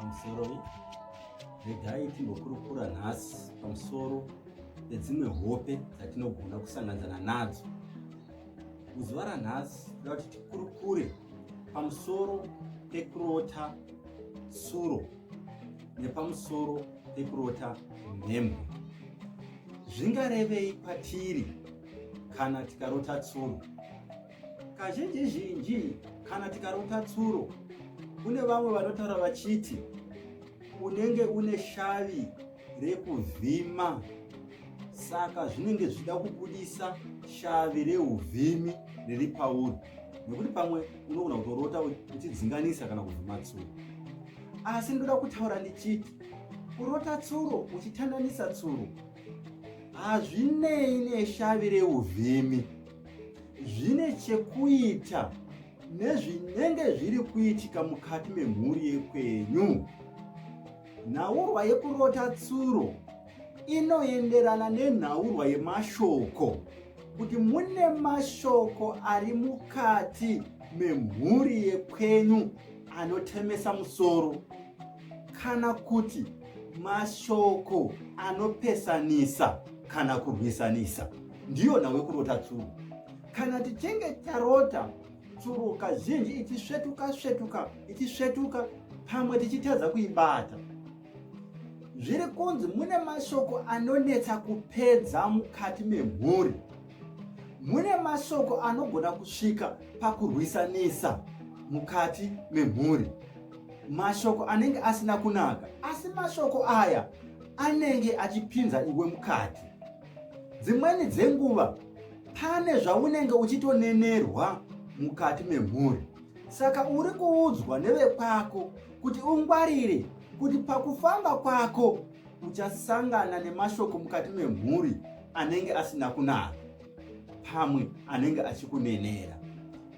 pamusoroi regai timbokurukura nhasi pamusoro pedzimwe hope dzatinogona kusanganzana nadzo muzuva ranhasi toda kuti tikurukure pamusoro pekurota tsuro nepamusoro pekurota mhembo zvingarevei kwatiri kana tikarota tsuro Kazhinji zhinji kana tikarota tsuro, kune vamwe vanotaura vachiti unenge une shavi rekuvhima, saka zvinenge zvichida kubudisa shavi reuvhimi riri pauri, nekuti pamwe unogona kutorota uchidzinganisa kana kuvhima tsuro. Asi ndoda kutaura ndichiti kurota tsuro uchitandanisa tsuro hazvinei neshavi reuvhimi zvine chekuita nezvinenge zviri kuitika mukati memhuri yekwenyu nhaurwa yekurota tsuro inoenderana nenhaurwa yemashoko kuti mune mashoko ari mukati memhuri yekwenyu anotemesa musoro kana kuti mashoko anopesanisa kana kurwisanisa ndiyo nhau yekurota tsuro kana tichinge tarota tsuro kazhinji ichisvetuka svetuka ichisvetuka pamwe tichitadza kuibata zviri kunzi mune mashoko anonetsa kupedza mukati memhuri mune mashoko anogona kusvika pakurwisanisa mukati memhuri mashoko anenge asina kunaka asi mashoko aya anenge achipinza iwe mukati Dzimweni dzenguva pane zvaunenge uchitonenerwa mukati memhuri, saka uri kuudzwa nevekwako kuti ungwarire kuti pakufamba kwako uchasangana nemashoko mukati memhuri anenge asina kunaka, pamwe anenge achikunenera.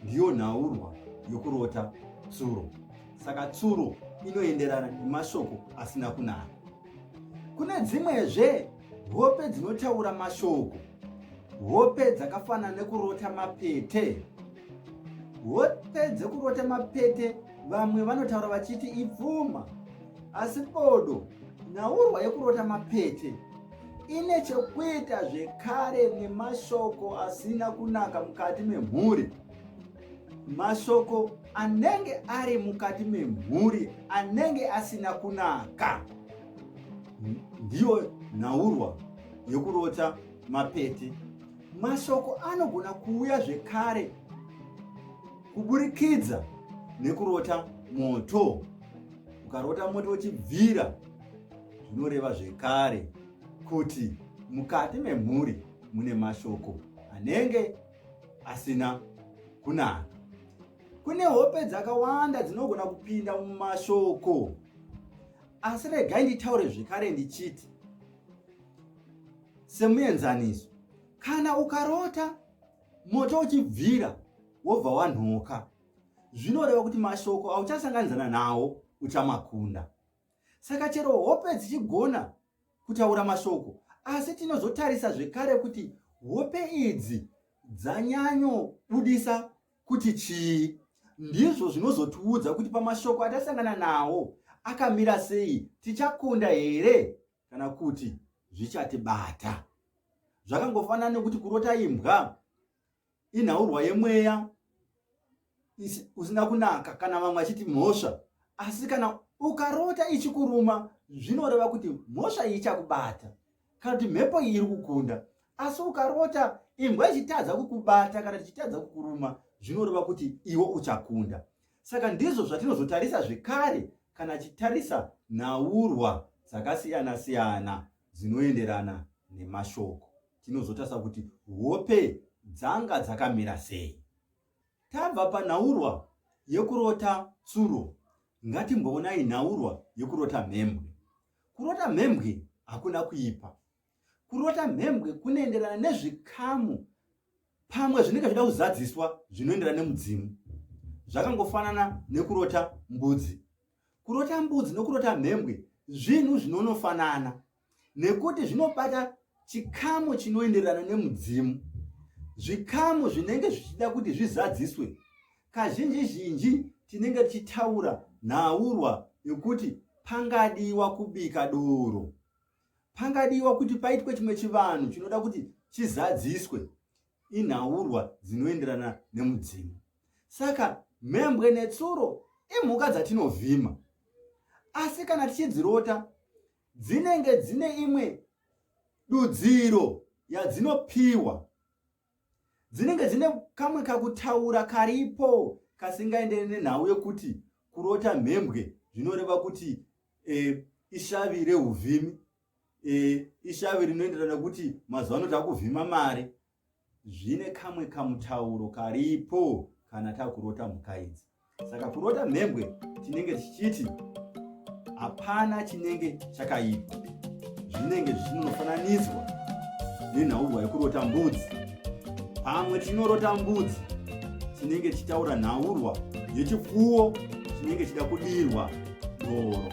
Ndiyo nhaurwa yokurota tsuro. Saka tsuro inoenderana nemashoko asina kunaka. Kune dzimwezve Hope dzinotaura mashoko. Hope dzakafanana nekurota mapete. Hope dzekurota mapete vamwe vanotaura vachiti ipfuma. Asi bodo, nhaurwa yekurota mapete ine chekuita zvekare nemashoko asina kunaka mukati memhuri. Mashoko anenge ari mukati memhuri anenge asina kunaka. ndiyo nhaurwa yokurota mapete mashoko anogona kuuya zvekare kuburikidza nekurota moto ukarota moto uchibvira zvinoreva zvekare kuti mukati memhuri mune mashoko anenge asina kunaka kune hope dzakawanda dzinogona kupinda mumashoko asi regai nditaure zvekare ndichiti semuenzaniso kana ukarota moto uchibvira wobva wanhoka zvinoreva kuti mashoko auchasanganidzana nawo uchamakunda saka chero hope dzichigona kutaura mashoko asi tinozotarisa zvekare kuti hope idzi dzanyanyobudisa kuti chii ndizvo zvinozotiudza kuti pamashoko atasangana nawo akamira sei tichakunda here kana kuti zvichatibata zvakangofanana nekuti kurota imbwa inhaurwa yemweya usina kunaka kana vamwe achiti mhosva asi kana ukarota ichikuruma zvinoreva kuti mhosva ichakubata kana kuti mhepo iyi iri kukunda asi ukarota imbwa ichitadza kukubata kana tichitadza kukuruma zvinoreva kuti iwe uchakunda saka ndizvo zvatinozotarisa zvekare kana chitarisa nhaurwa dzakasiyana siyana dzinoenderana nemashoko tinozotarisa kuti hope dzanga dzakamira sei tabva panhaurwa yekurota tsuro ngatimboonai nhaurwa yekurota mhembwe Kurota mhembwe hakuna kuipa. Kurota mhembwe kunoenderana nezvikamu pamwe zvinenge zvida kuzadziswa zvinoenderana nemudzimu. Zvakangofanana nekurota mbudzi. Kurota mbudzi nokurota mhembwe zvinhu zvinonofanana nekuti zvinobata chikamu chinoenderana nemudzimu. Zvikamu zvinenge zvichida kuti zvizadziswe kazhinji zhinji tinenge tichitaura nhaurwa yokuti pangadiwa kubika doro pangadiwa kuti paitwe chimwe chivanhu chinoda kuti chizadziswe inhaurwa dzinoenderana nemudzimu saka mhembwe netsuro imhuka dzatinovhima asi kana tichidzirota dzinenge dzine imwe dudziro yadzinopiwa dzinenge dzine kamwe kakutaura karipo kasingaendere nenhau yekuti kurota mhembwe zvinoreva kuti e, ishavi reuvhimi e, ishavi rinoenderana nekuti mazuva ano takuvhima mari zvine kamwe kamutauro karipo kana takurota mhuka idzi Saka kurota mhembwe chinenge chichiti hapana chinenge chakaipa, zvinenge zvichinofananidzwa nenhaurirwa yekurota mbudzi. Pamwe tinorota mbudzi chinenge chichitaura nhaurwa yechipfuwo chinenge chida kudirwa doro.